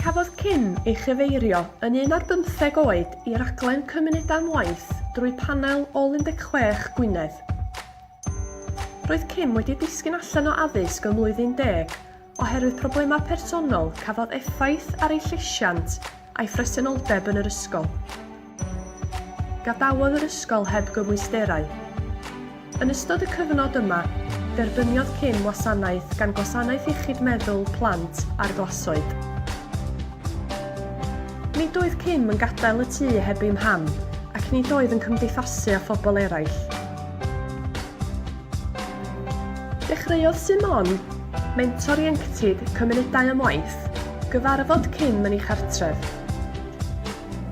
Cafodd Kim ei chyfeirio yn un ar bymtheg oed i raglen Cymunedau am Waith drwy panel Ôl 16 Gwynedd. Roedd Kim wedi disgyn allan o addysg ym Mlwyddyn Deg oherwydd problemau personol cafodd effaith ar ei llesiant a'i phresenoldeb yn yr ysgol. Gadawodd yr ysgol heb gymwysterau. Yn ystod y cyfnod yma, derbyniodd Kim wasanaeth gan Gwasanaeth Iechyd Meddwl Plant a'r Glasoed. Nid oedd Kim yn gadael y tŷ heb ei mham ac nid oedd yn cymdeithasu â phobl eraill. Dechreuodd Simon, mentor ieuenctid Cymunedau am Waith, gyfarfod Kim yn ei chartref.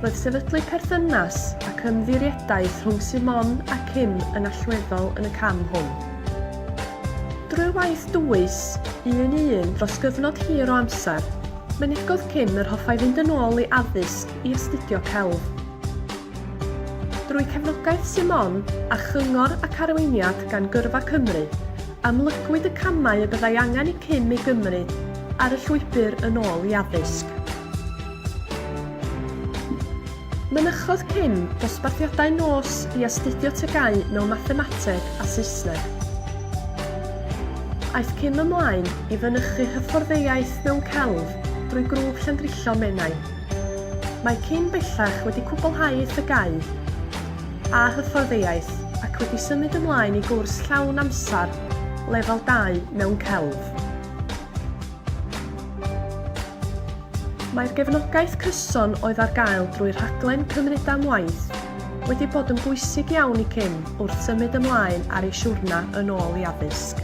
Roedd sefydlu perthynas ac ymddiriedaeth rhwng Simon a Kim yn allweddol yn y cam hwn. Drwy waith dwys, un i un dros gyfnod hir o amser, mynegodd Kim yr hoffai fynd yn ôl i addysg i astudio celf. Drwy cefnogaeth Simon a chyngor ac arweiniad gan Gyrfa Cymru, amlygwyd y camau y byddai angen i Kim ei gymryd ar y llwybr yn ôl i addysg. Mynychodd Kim dosbarthiadau nos i astudio TGAU mewn Mathemateg a Saesneg. Aeth Kim ymlaen i fynychu Hyfforddeiaeth mewn Celf drwy Grŵp Llandrillo Menai. Mae Kim bellach wedi cwblhau ei TGAU a Hyfforddeiaeth ac wedi symud ymlaen i gwrs llawn amser Lefel dau mewn Celf. Mae'r gefnogaeth cyson oedd ar gael drwy rhaglen Cymunedau am Waith wedi bod yn bwysig iawn i Kim wrth symud ymlaen ar ei siwrna yn ôl i addysg.